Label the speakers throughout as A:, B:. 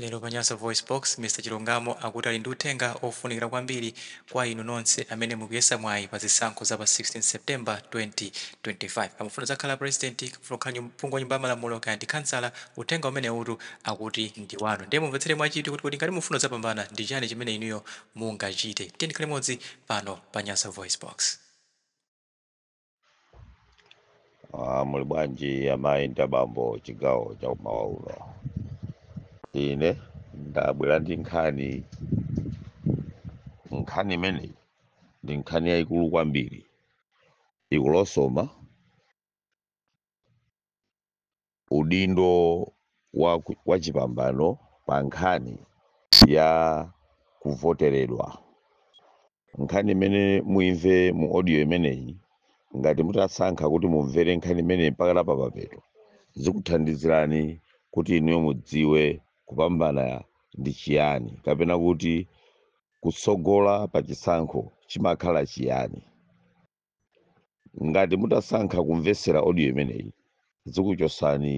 A: Lero pa Nyasa VoiceBox, Mr Chilungamo akuti ali ndi uthenga ofunikira kwambiri kwa inu nonse amene mukuyesa mwayi pa zisankho za pa 16 September 2025. Kaya mufuna kudzakhala President, kaya mufuna kukhala nyum, phungu wa Nyumba ya Malamulo, kaya ndi khansala, uthenga umenewutu akuti ndi wanu. Ndiye mumvetsere mwachidwi kuti kodi ngati mufuna kudzapambana, ndi chani chimene inuyo mungachite. Tiyeni tikhale limodzi pano pa Nyasa VoiceBox.
B: Ah, muli bwanji amayi ndi abambo chigawo cha kumawa uno ine ndabwera ndi nkhani nkhani imeneyi ndi nkhani yayikulu kwambiri ikulosoma udindo wachipambano pa nkhani ya kuvoteredwa. Nkhani imene muimve mu audio imeneyi, ngati mutasankha kuti mumvere nkhani imeneyi mpaka na papapeto, zikuthandizirani kuti inuyo mudziwe kupambana ndi chiyani kapena kuti kutsogola pa chisankho chimakhala chiyani. ngati mutasankha kumvetsera audio imeneyi zikuchosani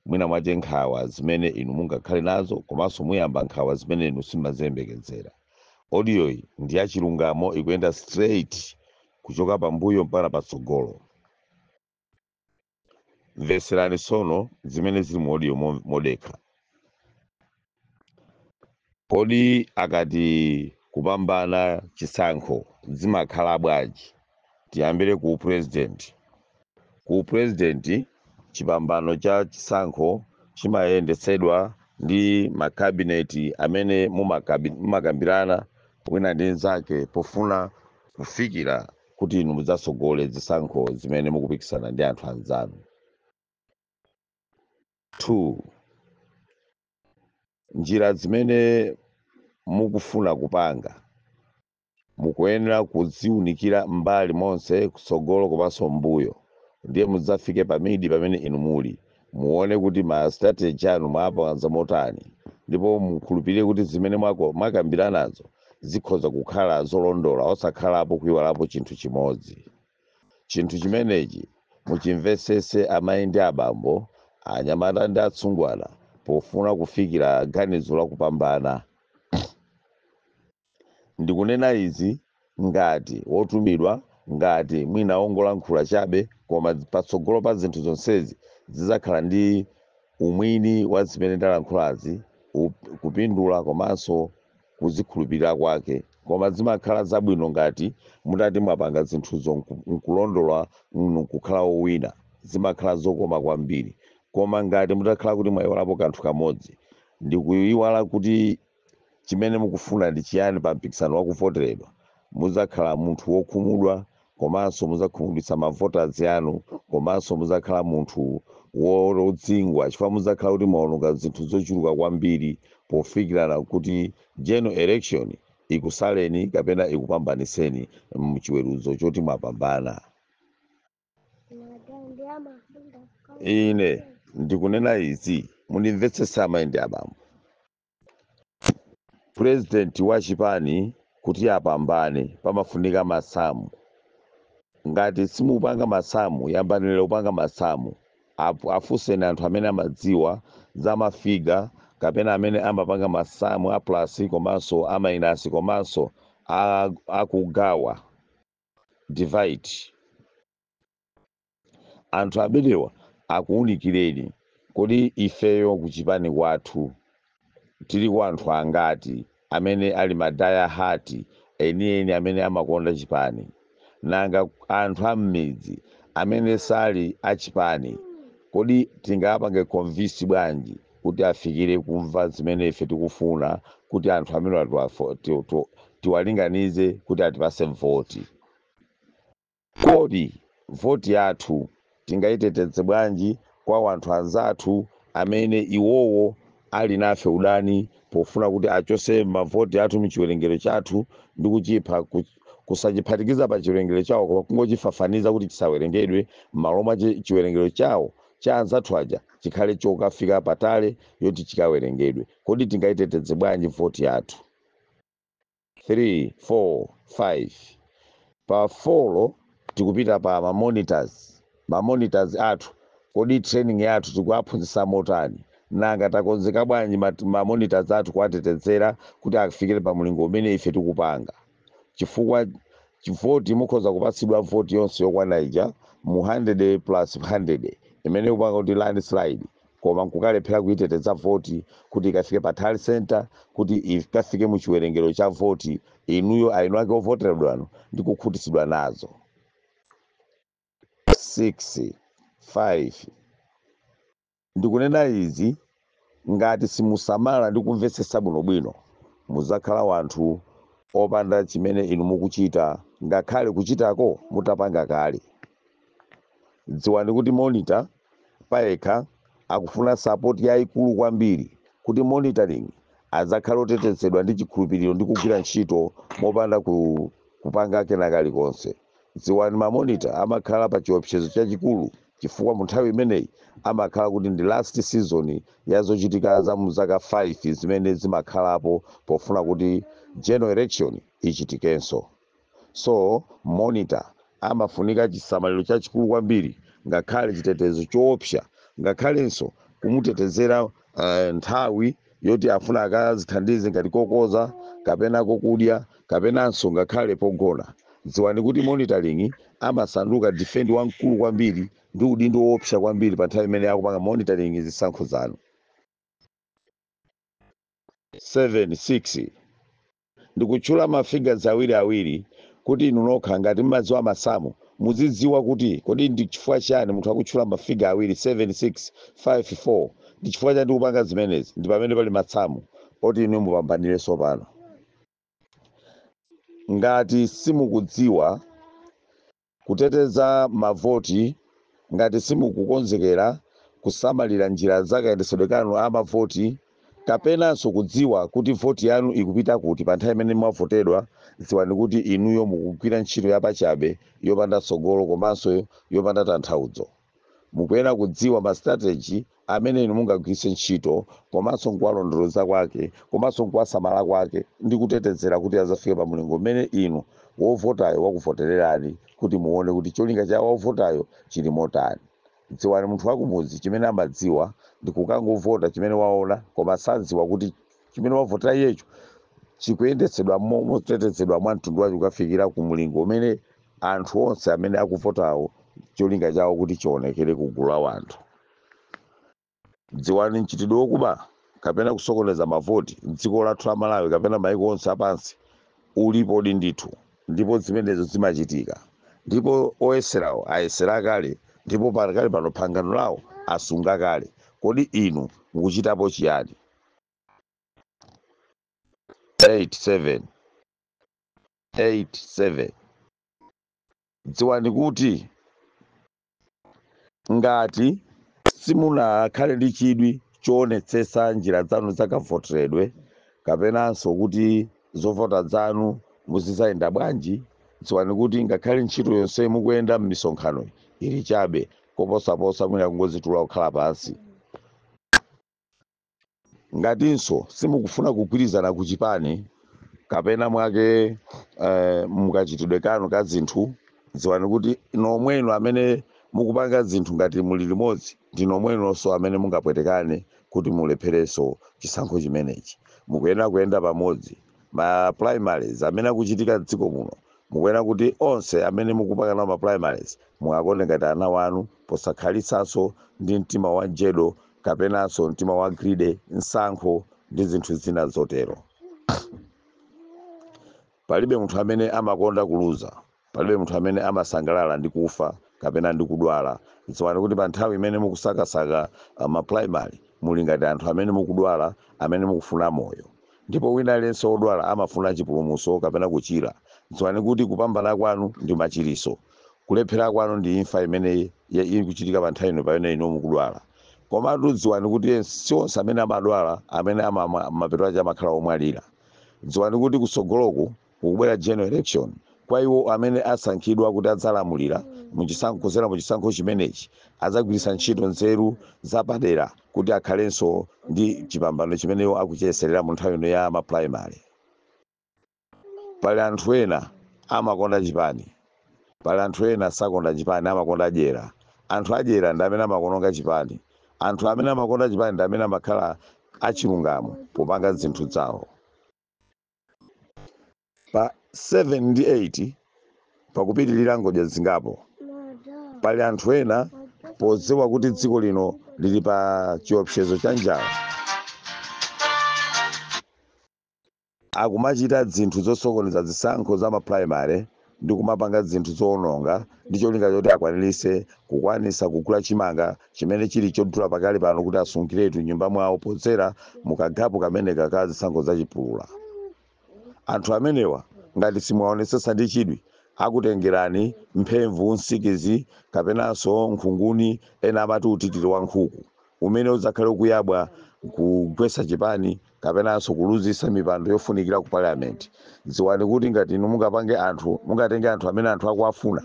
B: mwina mwache nkhawa zimene inu mungakhale nazo komanso muyamba nkhawa zimene inu simaziyembekezera audio iyi ndi ya chilungamo ikuyenda straight kuchoka pambuyo mpaka patsogolo mvetserani tsono zimene zili mu audio mo- modekha kodi akati kupambana chisankho zimakhala bwanji tiyambire ku president ku president chipambano cha chisankho chimayendetsedwa ndi makabineti amene mumakabi- mumakambirana wina ndi mnzake pofuna kufikira kuti inu mudzatsogole zisankho zimene mukupikisana ndi anthu anzanu two njira zimene mukufuna kupanga mukuyenera kuziunikira mbali monse kutsogolo komanso mbuyo ndiye mudzafike pamidi pamene inu muli Muone kuti ma strategy anu mwapanga motani ndipo mukhulupirire kuti zimene mwako, mwakambiranazo zikhoza kukhala zolondola osakhalapo kuiwalapo chinthu chimodzi. Chinthu chimenechi muchimvetsetse amai ndi abambo, anyamata ndi atsungwana pofuna kufikira ganizo la kupambana. Ndikunena izi ngati wotumidwa, ngati mwina wongolankhula chabe, koma patsogolo pa zinthu zonsezi zidzakhala ndi umwini wa zimene ndalankhulazi, kupindula komanso kuzikhulupilira kwake. Koma zimakhala zabwino ngati mutati mwapanga zinthuzo nkulondola nkukhala wowina. Zimakhala zokoma kwambiri. Koma ngati mutakhala kuti mwaiwalapo kanthu kamodzi, ndikuiwala kuti Chimene mukufuna ndi chiyani pa mpikisano wa kuvoteredwa? Mudzakhala munthu wokhumudwa komanso mudzakhumudwitsa ma voters anu komanso mudzakhala munthu wodzingwa chifukwa mudzakhala kuti mwaononga zinthu zochuluka kwambiri pofikirana kuti general election ikusaleni kapena ikupambanitseni mu chiweruzo choti mwapambana. Ine ndikunena izi, mundimvetsetse amai ndi abambo. President wa chipani kuti apambane pamafunika masamu. Ngati simupanga masamu yambanireni kupanga masamu. Afunseni anthu amene amadziwa za ma figure kapena amene amapanga masamu a plus komanso a minus komanso akugawa, divide. anthu amenewa akuunikireni kodi ifeyo kuchipani kwathu tiliko anthu angati amene ali ma die hard enieni amene amakonda chipani nanga anthu ammidzi amene sali achipani kodi tingawapange convince bwanji kuti afikire kumva zimene ife tikufuna kuti anthu amenewa tiwalinganize kuti atipase voti Kodi voti yathu tingaiteteze bwanji kwa wanthu anzathu amene iwowo ali nafe udani pofuna kuti achose mavoti athu mchiwelengero chathu ndi kuchipha, kusachiphatikiza pa chiwelengero chawo koma kungochifafaniza kuti chisawelengedwe mmalo mwa chiwelengero chawo cha anzathu aja chikhale chokafika pa tally yoti chikawelengedwe. Kodi tingaiteteze bwanji voti yathu? 3 4 5 pa 4 tikupita pa ma monitors athu kodi training yathu tikuwaphunzisa motani nanga takonzeka bwanji ma monitors athu kuwatetezera kuti afikire pa mlingo umene ife tikupanga chifukwa chi- voti mukhoza kupatsidwa voti yonse yokwana ija mu 100 plus 100 imene ikupanga kuti landslide koma nkukalephera kuiteteza voti kuti ikafike pa tally centre kuti ikafike mu chiwerengero cha voti, inuyo ainu ake ovoteredwa inu ndi kukhutitsidwa nazo? 6 5. Ndikunena izi ngati simusamala ndi kumvetsetsa bwinobwino, mudzakhala wanthu opanda chimene inu mukuchita ngakhale kuchitako mutapanga kale. Dziwani kuti monitor. payekha akufuna sapoti yaikulu kwambiri kuti monitoring adzakhale otetezedwa ndi chikhulupiriro ndi kugwira ntchito mopanda kupanga kena kalikonse. Dziwani ma monitor amakhala pa chiopsezo chachikulu chifukwa mu nthawi imeneyi amakhala kuti ndi last season ya zochitika za mu zaka 5 zimene zimakhalapo pofuna kuti general election ichitikenso. So, monitor amafunika chisamaliro chachikulu kwambiri, ngakhale chitetezo choopsa, ngakhalenso kumutetezera uh, nthawi yoti afuna akazithandize ngati kokoza kapena kokudya kapenanso ngakhale pogona. Dziwani kuti monitoring amasanduka defend wamkulu kwambiri ndi udindo woopsa kwambiri pa nthawi imene akupanga monitoring zisankho zanu. 7 6 Ndikutchula ma figures awiri awiri kuti inu nokha ngati mmadziwa masamu mudzidziwa kuti kodi ndi chifukwa chiyani munthu akutchula ma figure awiri 7 6 5 4 ndi chifukwa chani ndikupanga zimenezi ndi pamene pali masamu oti inuyo mupambanire sopano ngati simukudziwa Kuteteza mavoti, Ngati simukukonzekera kusamalira njira za kayendetsedwe kanu a mavoti kapenanso kudziwa kuti voti yanu ikupita kuti pa nthawi imene mwavotedwa, dziwani kuti inuyo mukugwira ntchito yapachabe, yopanda tsogolo komanso yopanda tanthauzo. Mukuyenera kudziwa ma strategy amene inu mungagwiritse ntchito komanso nkuwalondoloza kwake komanso nkuwasamala kwake ndi kutetezera kuti adzafike pa mulingo umene inu wovotayo wakuvotererani kuti muwone kuti cholinga cha wovotayo chili motani. Dziwani munthu wakumudzi chimene amadziwa ndi kukangovota chimene waona koma sadziwa kuti chimene wavotera iyecho chikuyendetsedwa mo- motetezedwa mwa mtundu wacho kukafikira ku mlingo umene anthu onse amene akuvotawo cholinga chawo kuti chionekere ku gulu la wanthu dziwani mchitidwe wokuba kapena kusokoneza mavoti m'dziko lathu la Malawi kapena maiko onse apansi ulipodi ndithu ndipo zimenezo zimachitika ndipo oyeserawo ayesera kale ndipo pakali pano pangano lawo asunga kale kodi inu mukuchitapo chiyani 87 dziwani kuti ngati simunakhale ndi chidwi choonetsetsa njira zanu zakavoteredwe kapenanso kuti zovota zanu muzizayenda bwanji dziwani kuti ngakhale ntchito yonse mukuyenda m'misonkhano ili chabe koposaposa mwina kungozitula kukhala pansi ngatinso simukufuna kugwirizana ku chipani kapena mwake eh, mukachitidwe kanu ka zinthu dziwani kuti nomwenu amene mukupanga zinthu ngati muli limodzi ndi nomwenonso amene mungapwetekane kuti mulepherenso chisankho chimenechi mukuyenera kuyenda pamodzi ma primaries amene akuchitika m'dziko muno mukuyenera kuti onse amene mukupanga nawo ma primaries mukakonde ngati ana wanu posakhalitsanso ndi mtima wa njedo kapenanso mtima wa greed nsankho ndi zinthu zina zotero palibe munthu amene amakonda kuluza palibe munthu amene amasangalala ndi kufa kapena ndi kudwala dziwani kuti pa nthawi imene mukusakasaka uh, maprimary muli ngati anthu amene mukudwala amene mukufuna moyo ndipo wina aliyense wodwala amafuna chipulumutso kapena kuchira dziwani kuti kupambana kwanu ndi machiriso Kulephera kwanu ndi imfa imene ya- ikuchitika pa nthawi ino pamene inu mukudwala. Komatu dziwani kuti ens- si onse amene amadwala amene mapeto ache amakhala omwalira. Dziwani kuti kutsogoloku kukubwera general election kwa iwo amene asankhidwa kuti adzalamulira mu chisankho kudzera mu chisankho chimenechi adzagwiritsa ntchito nzeru zapadera kuti akhalenso ndi chipambano chimene iwo akuchiyeserera mu nthawi ino ya ma primary. Pali anthu ena amakonda chipani, pali anthu ena sakonda chipani amakonda dyera. Anthu adyera ndi amene amakononga chipani. Anthu amene amakonda chipani ndi amene amakhala achilungamo popanga zinthu dzawo. Pa 7 ndi 8 pakupitilira ngodya zingapo. Pali anthu ena podziwa kuti dziko lino lili pa chiopsezo cha njala, akumachita zinthu zosokoneza zisankho za ma primary ndi kumapanga zinthu zoononga ndi cholinga choti akwanilise kukwanisa kugula chimanga chimene chili chodula pakali pano kuti asungiletu m'nyumba mwawo podzera mu kagapu kameneka ka zisankho za chipulula. Anthu amenewa ngati simuwaonesesa ndi chidwi akutengerani mphemvu, nsikizi kapenanso nkhunguni ena amati utitili wa nkhuku. umene udzakhale ukuyabwa n'kugwetsa chipani kapenanso kuluzitsa mipando yofunikira ku Parliament, dziwani kuti ngati inu mungapange anthu, mungatenge anthu amene anthu akuwafuna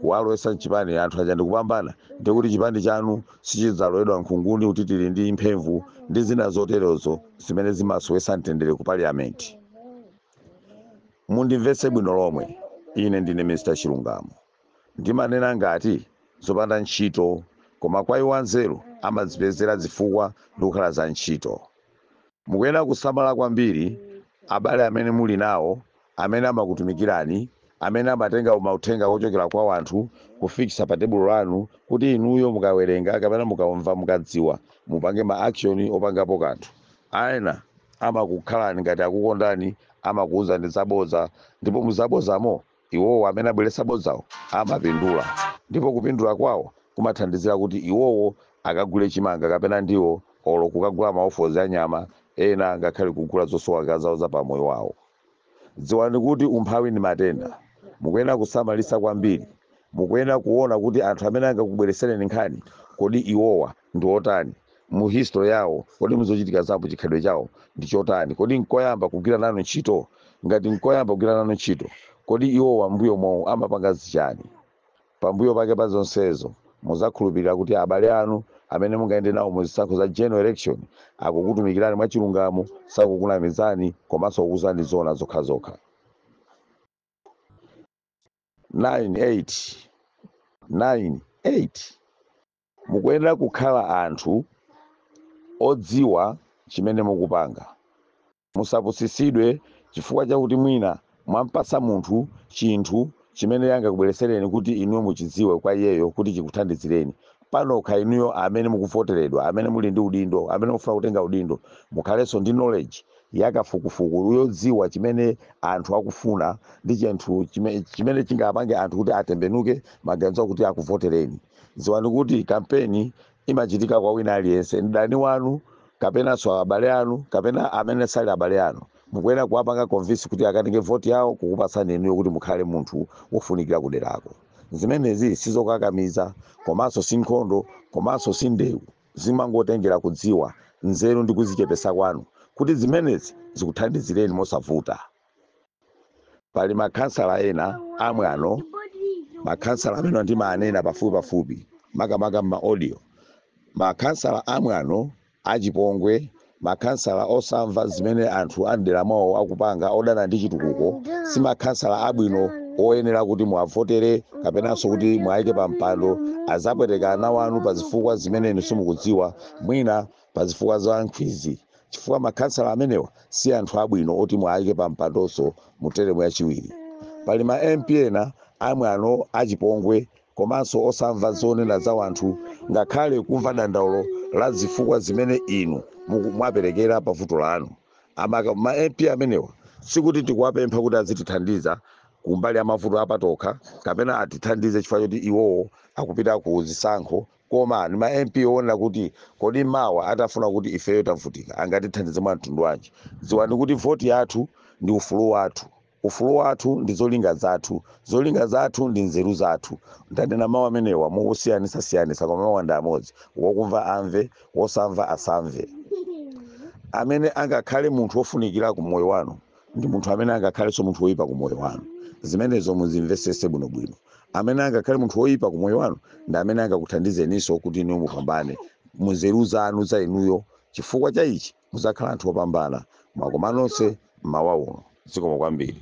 B: kuwalowetsa m'chipani, anthu aja ndikupambana, ndiye kuti chipani chanu sichidzalowedwa nkhunguni utitiri ndi mphemvu ndi zina zoterozo zimene zimasowetsa mtendere ku Parliament. Mundimvetse bwino lomwe, ine ndine Mr Chilungamo. Ndimanena ngati zopanda ntchito, koma kwa iwo anzeru amadzipezera zifukwa ndi kukhala za ntchito. Mukuyenera kusamala kwambiri abale amene muli nawo, amene amakutumikirani, amene amatenga mauthenga ochokera kwa wanthu kufikitsa pa tebulo lanu kuti inuyo mukawerenga kapena mukaumva mukadziwa mupange ma action opangapo kanthu. Ena amakukhalani ngati akukondani amakuuzani zabodza ndipo muzabodzamo Iwowo amene abweretsa bodzawo amapindula ndipo kupindula kwawo kumathandizira kuti iwowo akagule chimanga kapena ndiwo olo kukagula maofozi a nyama ena ngakhale kugula zosowaka zawo za pamoyo wawo. Dziwani kuti umphawi ndi matenda. Mukuyenera kusamalitsa kwambiri. Mukuyenera kuona kuti anthu amene angakubweretsereni nkhani kodi iwowa. ndi otani mu history yawo? Kodi muzochitika zawo chikhalidwe chawo ndi chotani? Kodi nkoyamba kugwira nanu ntchito? Ngati nkoyamba kugwira nanu ntchito, kodi iwowa m'mbuyomowu amapanga zichani? Pambuyo pake pa zonsezo, muzakhulupilira kuti abale anu amene mungayende nawo mu zisankho za general election akukutumikirani mwachilungamo, sakukunamizani komanso kukuuzani zoona zokhazokha. 9 8 9 8. Mukuyenera kukhala anthu odziwa chimene mukupanga. Musapusitsidwe chifukwa chakuti mwina mwampatsa munthu chinthu chimene angakubweretsereni kuti inuyo muchidziwe kwa iyeyo kuti chikuthandizireni. Panokha inuyo amene mukuvoteredwa, amene muli ndi udindo, amene mufuna kutenga udindo, mukhalenso ndi knowledge ya kafukufuku yodziwa chimene anthu akufuna ndi chinthu chimene chingapange anthu kuti atembenuke maganizo kuti akuvotereni. Dziwani kuti kampeni imachitika kwa wina aliyense, mdani wanu kapenanso abale anu kapena amene sali abale anu. Mukuyenera kuwapanga convince kuti akatenge voti yawo kukupatsani inuyo kuti mukhale munthu wofunikira kuderako. Zimenezi sizokakamiza komanso si nkhondo komanso si ndewu. Zimangotengera kudziwa, nzeru ndi kuzichepetsa kwanu kuti zimenezi zikuthandizireni mosavuta. pali makhansala ena amwano makhansala amene ndimaanena pafupipafupi makamaka m'maaudio makhansala amwano achipongwe makhansala osamva zimene anthu a mdera mwawo akupanga odana ndi chitukuko si makhansala abwino oyenera kuti muwavotere kapenanso kuti muwayike pa mpando azapweteka ana wanu pa zifukwa zimene inu simukudziwa mwina pa zifukwa za nkhwizi chifukwa makhansala amenewa si anthu abwino oti muwayike pa mpandonso mu teremu yachiwiri. Pali ma MP ena amwano, achipongwe komanso osamva zonena za wanthu ngakhale kumva dandaulo la zifukwa zimene inu muku- mwaperekera pa vuto lanu. Ma MP amenewa sikuti tikuwapempha kuti azitithandiza kumbali ya mavuto apatokha kapena atithandize chifukwa choti iwowo akupita ku zisankho Koma ndi ma MP owonera kuti kodi mawa atafuna kuti ifeyo tavutika angatithandize mwa mtundu wanji? Dziwani kuti voti yathu ndi ufulu wathu. Ufulu wathu ndi zolinga zathu. Zolinga zathu ndi nzeru zathu. Ndanena mau amenewa mosiyanitsasiyanitsa koma mawuwa ndi amodzi. Wokumva amve, wosamva asamve. Amene angakhale munthu wofunikira ku moyo wanu ndi munthu amene angakhalenso munthu woyipa ku moyo wanu zimenezo muzimvesese bwinobwino amene angakhale munthu woyipa ku moyo wanu ndi amene angakuthandizeninso kuti inuyo mupambane munzeru zanu za inuyo chifukwa cha ichi muzakhala anthu opambana mwakomanonse mmawa uno zikomo kwambiri